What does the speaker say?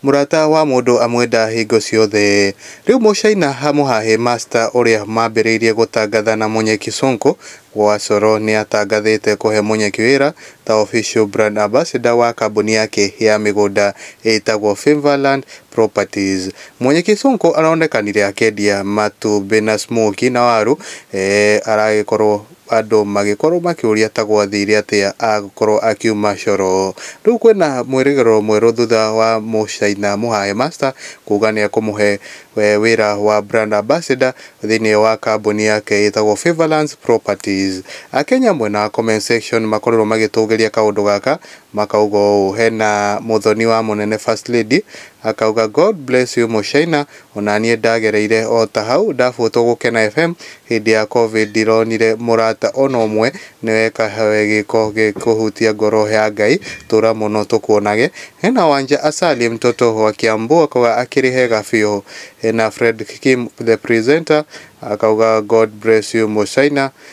Mũrata wa mũndũ amwenda hingo ciothe. Rĩu mũcaina ha mũhahe masta ũrĩa mambĩrĩirie gũtangatha na mũnyeki Sonko wa coro nĩatangathĩte kũhe mũnyeki wĩra ta official brand ambassador wa kambuni yake ya mĩgũnda ĩtagwo Favourland properties. Mũnyeki Sonko aronekanire akĩendia matumbĩ na smokie na waru eeh aragĩkorwo. Andũ magĩkorwo makĩũria ta gwathire atĩa agĩkorwo akiuma Coro. Rĩu kwĩna mwĩrĩgĩrĩro mwerũ thutha wa Mũchaina Mũhahe Master kuga nĩekũmũhe wĩra wa Brand Ambassador thĩinĩ wa kambuni yake ĩtagwo Favourlands Properties. Akenya mwena wa comment section makorirwo magĩtũgĩria kaũndũ gaka makauga ũũ, hena mũthoni wa mũnene First Lady akauga God bless you Mũchaina Onanie ndagereire ota hau ndabuatwo gũkena FM hĩndĩ ya covid ndironire mũrata ona ũmwe nĩweka we gĩko gĩkũhutia ngoro ya Ngai tũra mũno tũkuonage hena Wanja Asali mtoto wa Kiambu akauga akĩrĩ hega biũ hena Fred Kim the presenter akauga God bless you Mũchina